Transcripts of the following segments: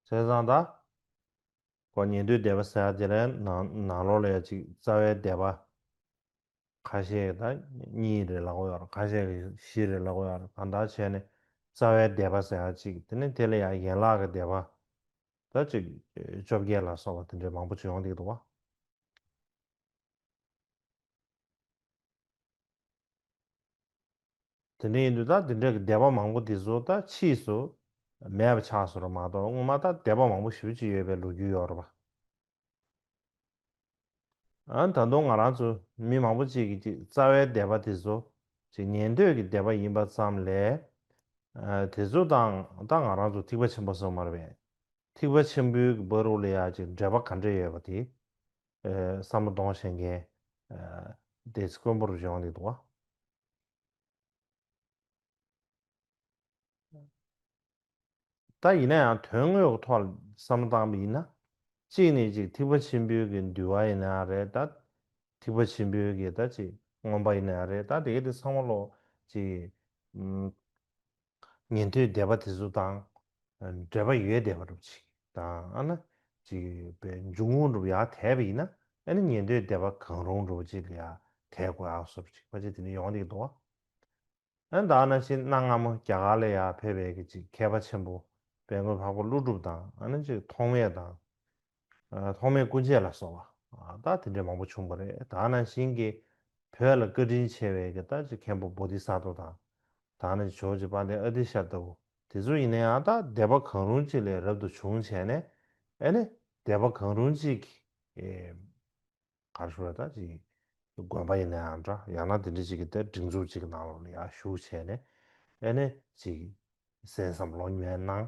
ཟས་བཟང་དག་གོ། ཉེ་དུའི་བཟླས་པ་བསལ། དེ་ལས་ནང་ལོགས་ལས་གཅིག་རྩ་བའི་བཟླས་པ། ཁ་ཤས་དང་གཉིས་རེ་ལ་གོ། ཁ་ཤས་ཀྱི་བཞི་རེ་ལ་གོ། གང་དག་བྱས་ནས་རྩ་བའི་བཟླས་པ་བསལ་གཅིག་དེ་ནས་དེ་ལ་ཡང་ཡན་ལག་གི་བཟླས་པ། དག་གཅིག་བཅོ་བརྒྱད་ལ་སོགས་པ་དེ་འདྲའི་མང་པོ་ཅི་ཡོང་སྟེ་དུ་བ། དེ་འདྲའི་ཡིན་དུས་ད་དེ་འདྲ་གི་སྡེ་པ་མང་པོ་འདི་ཚོ་ད་ཕྱིས་སུ་མེད་པ་ཆགས་སོང་རོགས་མ་གཏོགས་སྔོན་མ་ད་སྡེ་པ་མང་པོ་ཞིག་ཅིག་ཡོད་པའི་ལོ་རྒྱུས་ཡོད་རོགས་པ། ད་དུང་ང་རང་ཚོ་མི་མང་པོ་ཅིག་གིས་ཅིག་རྩ་བའི་སྡེ་པ་དེ་ཚོ་ཅིག་ཉན་འདོད་ཀྱི་སྡེ་པ་ཡིན་པ་ཙམ་ལས། དེ་ཚོ་དང་ད་ང་རང་ཚོ་ཐིག་པ་ཆེན་པོ་སོ་མར་བས་ཐིག་པ་ཆེན་པོའི་གི་བ་རུ་ལ་ཡ་ཅིག་འབྲེལ་པ་ག་འདྲ་ཡོད་པ་དེ་ས་མོ་གདོང་བྱེད་མཁན། དེ་ཚོ་དཀོན་པོར་བཞེངས་ནས་འདུག་བ། ད་ཡིན་ན་ཡང་དོན་དངོས་ཀྱི་ཐོག་ལ་བསམ་བློ་བཏང་བ་ཡིན་ན། གཅིག་ནས་ཅིག་ཐིགས་པ་ཆེན་པོའི་གི་འདུལ་བ་ཡིན་ན་ཡང་རེད་ད། ཐིགས་པ་ཆེན་པོའི་གི་ད་ཅིག་ངོམ་པ་ཡིན་ན་ཡང་རེད་ད་དེ་ག་དེ་ཚང་མ་ལོག་ཅིག། ཉན་ཐོས་སྡེ་པ་དེ་ཚོ་དང་འབྲེལ་པ་ཡོད་བསྡད་པ་རུ་གཅིག་དང་ཨ་ན་གཅིག་པའི་འཇུག་ངོགས་རུ་ཡང་དེད་པ་ཡིན་ན་ཨེ་ན་ཉན་ཐོས་སྡེ་པ་གང་རུང་རུ་གཅིག་ལ་ཡང་དེད་དགོས་ཨང་སོ་རུ་གཅིག་པ་ཅིག་དེ་ནི་ཡོང་དེ་གི་འདུག་ཨ་ན་ད་ཨ་ན་ཕྱི་གནའ་སྔ་མོ་རྒྱ་གར་ལ་ཡང་ཕེབས་པའི་གི་གཅིག་མཁས་པ་ཆེན་པོ་དཔལ་མགོན་འཕགས་པ་ཀླུ་སྒྲུབ་དང་ཨ་ན་གཅིག་ཐོགས་མེད་དང་ཐོག་མའི་སྐུ་མཆེད་ལ་སོགས་པ་དག་དེ་འདྲའི་མང་པོ་བྱུང་བ་རེད་དག་ནང་བཞིན་གྱི་བོད་ལ་བཀའ་དྲིན་ཆེ་བའི་གི་དག་ཅིག་མཁན་པོ Bodhisattva དང་དག་ནང་བཞིན་ཇོ་བྱེད་པ་འདི་ཨ་ཏི་ཤ་ལྟ་བུ་དེ་ཚོ་ཡིན་ན་ཡང་དག་དད་པ་གང་རུང་ཅིག་ལས་རབ་ཏུ་བྱུང་བྱས་ནས་ཨེ་ནི་དད་པ་གང་རུང་ཅིག་གིས་གར་ཞུགས་ལ་དག་ཅིག་གིས་དགོན་པ་ཡིན་ན་ཡང་འདྲ་ཡང་ན་དེ་འདྲ་ཅིག་གིས་དེ་སྒྲིག་འཛུགས་ཅིག་གི་ནང་ལོགས་ལ་ཡར་ཞུགས་བྱས་ནས་ཨེ་ནི་ཅིག་གིས་གསན་བསམ་བློ་ཉམས་ན།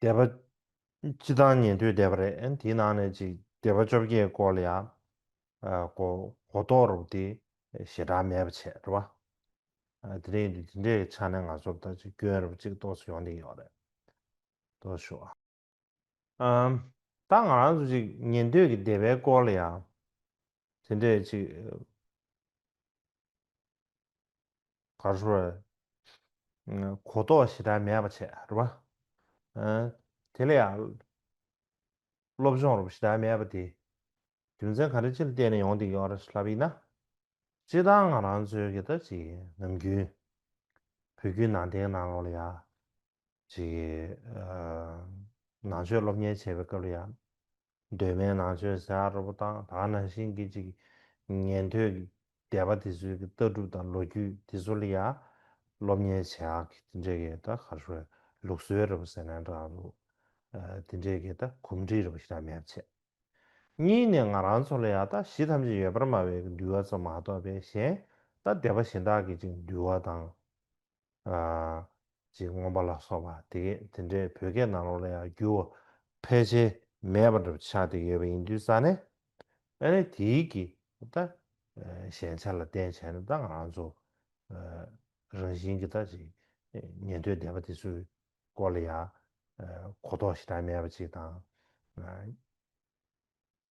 འདས་པ། སྤྱི་བཏང་ཉན་ཐོས་འདས་པ་རེད་དེའི་ནང་ནས་ཅིག་འདས་པ་བཅོ་བརྒྱད་སྐོར་ལ་ཡང། གོ་རྟོགས་རོགས་དེ་ཞེ་དྲག་མེད་པ་བྱས་རེད་བ། དེ་རིང་དུ་དེ་འདྲའི་ཆ་ནས་ང་ཚོར་ད་ཅིག་སྐྱོན་རེད་བ་ཅིག་རྟོགས་སུ་ཡོང་བསྡད་ཡོད་རེད། རྟོགས་ཞུ། ད་ང་རང་ཚོ་ཅིག་ཉན་ཐོས་ཀྱི་འདས་པའི་སྐོར་ལ་ཡང་དེ་འདྲའི་ཅིག། གར་སོ། གོ་རྟོགས་ཞེ་དྲག་མེད་པ་བྱས། རེད་པ། དེ་ལ་ཡང། སློབ་སྦྱོང་རོབ་ཞེ་དྲག་མེད་པ་དེ། རྒྱུ་མཚན་ག་རེ་ཅིར་བརྟེན་ནས་ཡོང་འདི་ཡོད་རེད་ལབ་ཡིན་ན། སྤྱི་བཏང་ང་རང་ཚོའི་གི་ད་ཅིག་ནམ་རྒྱུན། བོད་བརྒྱུད་ནང་བསྟན་ནང་ལོགས་ལ་ཡང། ཅིག། ནང་ཆོས་སློབ་གཉེར་བྱས་པའི་སྐབས་ལ་ཡང། གདོད་མའི་ནང་ཆོས་གཟའ་རོ་པོ་དང་དག་སྣང་བཞིན་གྱི་ཅིག། ཉན་ཐོས་ཀྱི་སྡེ་པ་དེ་ཚོའི་ལྟ་གྲུབ་དང་ལོ་རྒྱུས་དེ་ཚོ་ལ་ཡང་སློབ་གཉེར་བྱས་ཨ་ཁི་དེ་འདྲའི་གི་ད་གར་ཧྲོའི་ལུགས་སྲོལ་རེ་པོ་ཟེར་ན་འདྲ་འདུག་དེ་འདྲའི་གི་ད་གོམས་འདྲིས་རེ་པོ་ཞིག་ད་མེད་པ་བྱས། གཉིས་ནས་ང་རང་ཚོ་ལ་ཡང་ད་གཞི་ཐམས་ཅད་ཡོད་པར་སྨྲ་བའི་གི་འདུལ་བ་ཚོ་མ་གཏོགས་པའི་གཞན་ད་སྡེ་པ་གཞན་དག་གི་ཅིག་འདུལ་བ་དང། ཅིག་མངོན་པ་ལ་སོགས་པ་དེ་དེ་འདྲའི་བོད་སྐད་ནང་ལོགས་ལ་ཡང་བསྒྱུར་བ་ཕལ་ཆེར་མེད་པ་འདྲ་བོ་ཆགས་ཏེ་ཡོད་པ་ཡིན་དུས་རྩ་ནས་ཨ་ནི་དེའི་གི་ད་ཞན་ཆ་ལ་བརྟེན་བྱས་ན་ད་ང་ཚོ་རང་བཞིན་གི་ད་ཅིག་ཉན་ཐོས་སྡེ་པ་དེ་ཚོའི་སྐོར་ལ་ཡང་གོ་རྟོགས་ཞེ་དྲག་མེད་པ་ཅིག་དང།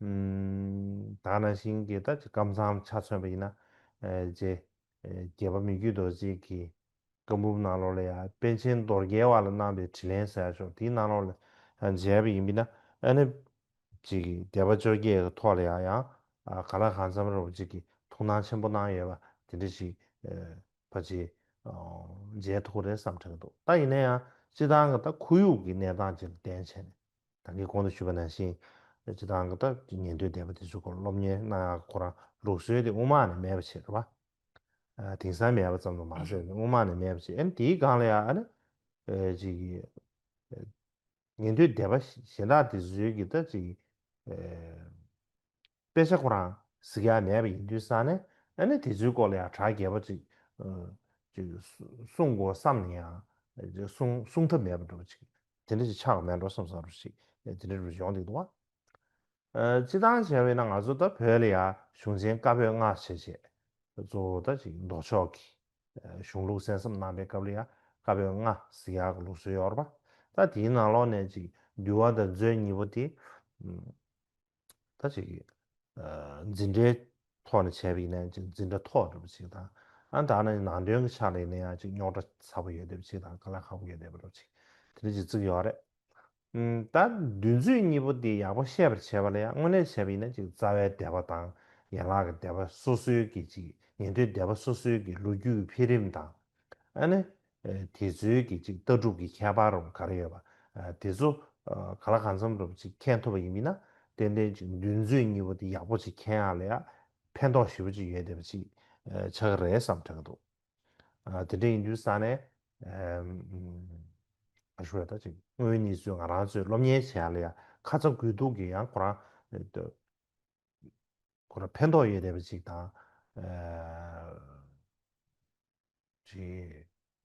དག་ན་ཤིང་གི་དག་གི་ཀམ་ཚང་ཆ་མཚོན་པ་ཡིན་ན། རྗེ་བརྒྱད་པ་མི་རྒྱུད་རྡོ་རྗེས་ཀྱི་བཀའ་འབུམ་ནང་ལོགས་ལ་ཡང་དཔལ་ཆེན་རྡོར་རྒྱལ་བ་ལ་གནང་པའི་དྲི་ལན་གསལ་ཤོག་དེའི་ནང་ལོགས་ལ་མཇལ་བ་ཡིན་པས་ན་ཨ་ནི། རྗེ་གི་བརྒྱད་པ་བཅོ་བརྒྱད་གི་ཐོག་ལ་ཡང་ཡང་ག་ལ་གང་འཚམ་རོགས་བྱེད་ཀྱི་ཐུགས་སྣང་ཆེན་པོ་གནང་ཡོད་པ་དེ་འདྲ་ཞིག་ཕ་རྗེས་མཇལ་ཐུག་གི་རེད་བསམ་ཁྲེལ་འདུག་ད་ཡིན་ན་ཡང་སྤྱི་བཏང་གི་ད་ཁོར་ཡུག་གི་གནས་སྟངས་ཅན་ལ་བརྟེན་བྱས་ནས། ད་གིན་གོང་དུ་ཞུས་པ་ནང་བཞིན། སྤྱི་བཏང་གི་ཏག་གི་ཉན་ཐོས་སྡེ་པ་དེ་ཚོའི་སྐོར་སློབ་གཉེར་གནང་ཡག་གི་ཁོ་རང་ལུགས་སྲོལ་དེ་དབུ་མ་ནས་མེད་པ་བྱེད་དགོས་པ། དེང་སང་མེད་པ་ཙམ་དུ་མ་ཟད་དབུ་མ་ནས་མེད་པ་བྱེད་ཨེ་ན་དེའི་སྒང་ལ་ཡང་ཨ་ན། ཅིག། ཉན་ཐོས་སྡེ་པ་གཞན་དག་དེ་ཚོའི་གི་ཏག་ཅིག། དཔེ་ཆ་ཁོ་རང་གཟིགས་ཡ་མེད་པ་ཡིན་དུས་ས་ནས་ཨ་ནི་དེ་ཚོའི་སྐོར་ལ་ཡང་གྲགས་རྒྱས་པོ་ཅིག་གསུངས་དགོས་བསམ་ནས་ཡང་གསུངས་ཐབས་མེད་པ་འགྲོ་ཅིག་དེ་འདྲ་ཞིག་ཆགས་ཀ་མེད་འགྲོ་བསམ་བསམ་རུ་ཞིག་དེ་འདྲ་རུ་ཡོང་སྡིག་འདུག་བ། སྤྱི་བཏང་བྱས་བས་ན་ང་ཚོ་ད་བོད་ལ་ཡང་གཞུང་ཆེན་བཀའ་པོད་ལྔ་བྱས་བྱས་གཙོ་བོ་ད་ཅིག་མདོ་ཕྱོགས་ཀྱི་གཞུང་ལུགས་གསན་བསམ་གནང་པའི་སྐབས་ལ་ཡང་བཀའ་པོད་ལྔ་གཟིགས་ཡ་གི་ལུགས་སྲོལ་ཡོད་ར་པ་ད་དེའི་ནང་ལོགས་ནས་ཅིག་འདུལ་བ་ད་མཛོད་གཉིས་པོ་དེ། ད་ཅིག་གིས། འཛིན་གྲྭའི་ཐོག་ནས་བྱས་པ་ཡིན་ན་འཛིན་གྲྭ་ཐོག་འགྲོ་བ་ཅིག་དང། ཨ་མདའ་ནི་ནང་དོན་གྱི་ཕྱག་ལས་ཡིན་ན་ཡང་ཅིག་རྙོག་དྲ་ཚ་པོ་ཡོད་དེབ་ཅིག་དང་ག་ལ་ཁག་པོ་ཡོད་དེབ་རོ་ཅིག་དེ་འདྲ་ཅིག་བརྩིགས་ཡོད་རེད། ད་འདུལ་མཛོད་གཉིས་པོ་དེ་ཡག་པོ་ཤེས་པར་བྱས་པ་ལ་ཡང་དངོས་གནས་བྱས་པ་ཡིན་ན་ཅིག་རྩ་བའི་དད་པ་དང་ཡན་ལག་གི་དད་པ་སོ་སོའི་གི་ཅིག་ཉན་ཐོས་དད་པ་སོ་སོའི་གི་ལོ་རྒྱུས་ཀྱི་འཕེལ་རིམ་དང། ཨ་ནི། དེ་ཚོའི་གི་ཅིག་ལྟ་གྲུབ་ཀྱི་ཁྱད་པར་རམ་ག་རེ་ཡོད་པ། དེ་ཚོ་ག་ལ་ག་མཚམས་རུ་ཅིག་མཁྱེན་ཐུབ་པ་ཡིན་མིན་ན། ཏན་ཏན་ཅིག་འདུལ་མཛོད་གཉིས་པོ་དེ་ཡག་པོ་ཅིག་མཁྱེན་ཡག་ལ་ཡང་ཕན་ཐོགས་ཞེ་པོ་ཅིག་ཡོད་བསྡད་པ་ཅིག་ཆགས་ཀྱི་རེད་བསམ་དྲན་གྱི་འདུག། དེ་འདྲ་ཡིན་དུས་ས་ནས། ཨ་ཤུ་ཡ་ད་ཅིག་སྔོན་གཉིས་ཚོས་ང་རང་ཚོས་སློབ་གཉེར་བྱས་ཡག་ལ་ཡང་ཁ་ཚ་དགོས་གཏུགས་ཀྱི་ཡང་ཁོ་རང། ཁོ་ར་ཕན་ཐོགས་ཡོད་རེད་པ་ཅིག་དང།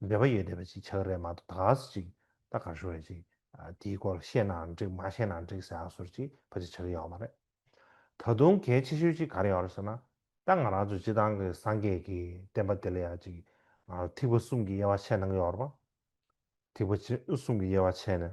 འབད་པ་ཡོད་རེད་པ་ཅིག་བྱ་གི་རེད་མ་གཏོགས་ད་ག་ཟེ་ཅིག་ད་ག་ཞོ་རེད་ཅིག་དེའི་སྐོར་ལ་ཤེས་ནའང་འགྲིག་མ་ཤེས་ནའང་འགྲིག་ཟེ་ཨ་ཟོ་རེ་ཅིག་བ་ཅིག་བྱ་གི་ཡོད་མ་རེད། ད་དུང་གལ་ཆེ་ཤོས་ཅིག་ག་རེ་ཡོད་རེད་ཟེར་ན། ད་ང་རང་ཚོ་སྤྱི་བཏང་གི་སངས་རྒྱས་ཀྱི་བསྟན་པ་དེ་ལ་ཡང་ཅིག་ཐིགས་པ་གསུམ་གྱི་དབྱེ་བ་ཕྱེ་གནང་གི་ཡོད་རེད་པ། ཐིགས་པ་གསུམ་གྱི་དབྱེ་བ་ཕྱེ་ནས།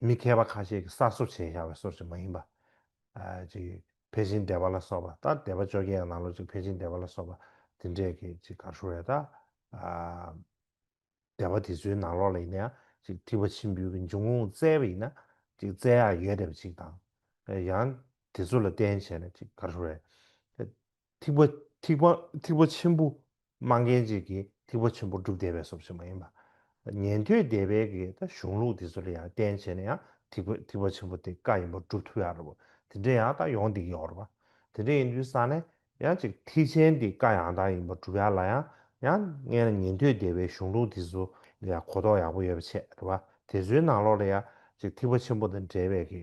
མི་མཁས་པ་ཁ་ཤས་ཀྱིས་གསར་བཟོ་བྱས་ཤག་བའི་སོར་ཅིག་མ་ཡིན་པ། ཅིག་བྷེ་ཅིན་སྡེ་བ་ལ་སོགས་པ་དང་སྡེ་བ་བཅོ་བརྒྱད་ཡང་ནང་ལོགས་ཅིག་བྷེ་ཅིན་སྡེ་བ་ལ་སོགས་པ་དེ་འདྲས་ཀྱི་ཅིག་གར་ཧྲུལ་རེད་ད། སྡེ་བ་དེ་ཚོའི་ནང་ལོགས་ལ་ཡིན་ན་ཡང་ཅིག་ཐིག་པ་ཆིམ་འབུལ་གྱི་འབྱུང་ཁུངས་བཙལ་བ་ཡིན་ན་ཅིག་བཙལ་ཡག་ཡོད་བསྡད་པ་ཅིག་དང། ཡང་དེ་ཚོ་ལ་བརྟེན་བྱས་ན་ཅིག་གར་ཧྲུལ་རེད། ཐིག་པ། ཐིག་པ། ཐིག་པ་ཆེན་པོ། སྨྲ་མཁན་གཅིག་གིས་ཐིག་པ་ཆེན་པོ་སྒྲུབ་བདེ་བའི་སོབ་ཆེན་པོ་ཡིན་པ། ཉན་ཐོས་སྡེ་པའི་གི་ད་གཞུང་ལུགས་འདི་ཚོ་ལ་ཡང་བསྟན་བྱས་ན་ཡང་ཐིག་པ་ཐིག་པ་ཆེན་པོ་དེ་བཀའ་ཡིན་པ་སྒྲུབ་ཐུབ་ཡག་རེད་བ། དེ་འདྲ་ཡང་ད་ཡོང་འདེགས་ཡོག་རེད་བ། དེ་འདྲ་ཡིན་དུས་ས་ནས་ཡང་ཅིག་ཐིག་ཆེན་འདི་བཀའ་ཡང་དག་ཡིན་པ་སྒྲུབ་ཡག་ལ་ཡང་ཡང་ངས་ན་ཉན་ཐོས་སྡེ་པའི་གཞུང་ལུགས་འདི་ཚོ་ལ་ཡང་གོ་རྟོགས་ཡག་པོ་ཡོད་པ་ཆེད་རེད་བ། དེ་ཚོའི་ནང་ལོགས་ལ་ཡང་ཅིག་ཐིག་པ་ཆེན་པོ་དང་འབྲེལ་བའི་གི་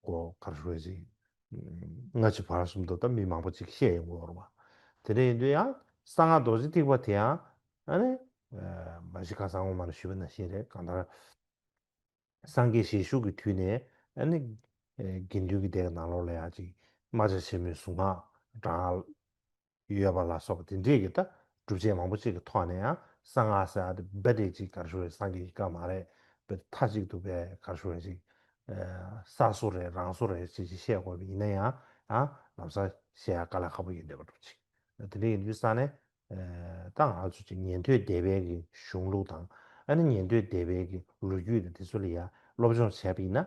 སྒོ་ཁར་ཧྲུའེ་ཅིན། སྔ་ཕྱི་བར་གསུམ་དུ་ད་མི་མང་པོ་ཅིག་བཤད་ཡོང་གི་འོར་བ། དེ་འདྲ་ཡིན་དུས་ཡང་གསང་སྔགས་རྡོ་རྗེ་ཐིག་པ་དེ་ཡང་ཨཱ་མ་གཞི་ཁ་སང་ངོ་མ་ལ་ཞུས་པ་ན་ཤེས་རེད་གང་ལྟར། སངས་རྒྱས་ཞལ་བཞུགས་ཀྱི་དུས་ནས་ཨཱ་ནི། དགེ་འདུན་གྱི་སྡེ་གི་ནང་ལོགས་ལ་ཡང་ཅིག་རྨ་བྱ་ཆེན་མོའི་གཟུངས་སྔགས་བགྲང། ཡོད་པ་ལ་སོགས་པ་དེ་འདྲས་ཀྱི་ལྟ་གྲུབ་ཅན་མང་པོ་ཅིག་གི་ཐོག་ནས་ཡང་གསང་སྔགས་ཟེར་བ་དེ་རྦད་དེ་ཅིག་གར་ཞུ་བའི་སངས་རྒྱས་ཀྱི་བཀའ་མ་རེད་རྦད་དེ་མཐའ་གཅིག་ཏུ་རྦད་གར་ཞུ་བ་ཅིག་ས་སོ་རེད་རང་སོ་རེད་ཅེས་ཅིག་བཤད་དགོས་པ་ཡིན་ན་ཡང་ལམ་སང་བཤད་ཡག་ག་ལ་ཁག་པོ་ཡོད་འདོད་པ་འདུག་ཅིག་དེ་འདྲས་ཡིན་དུས་ས་ནས་ད་ང་ཚོ་ཅིག་ཉན་ཐོས་སྡེ་བས་ཀྱི་གཞུང་ལུགས་དང་ཨ་ནི་ཉན་ཐོས་སྡེ་བས་ཀྱི་ལོ་རྒྱུས་དང་དེ་ཚོ་ལ་ཡང་སློབ་སྦྱོང་བྱས་པ་ཡིན་ན།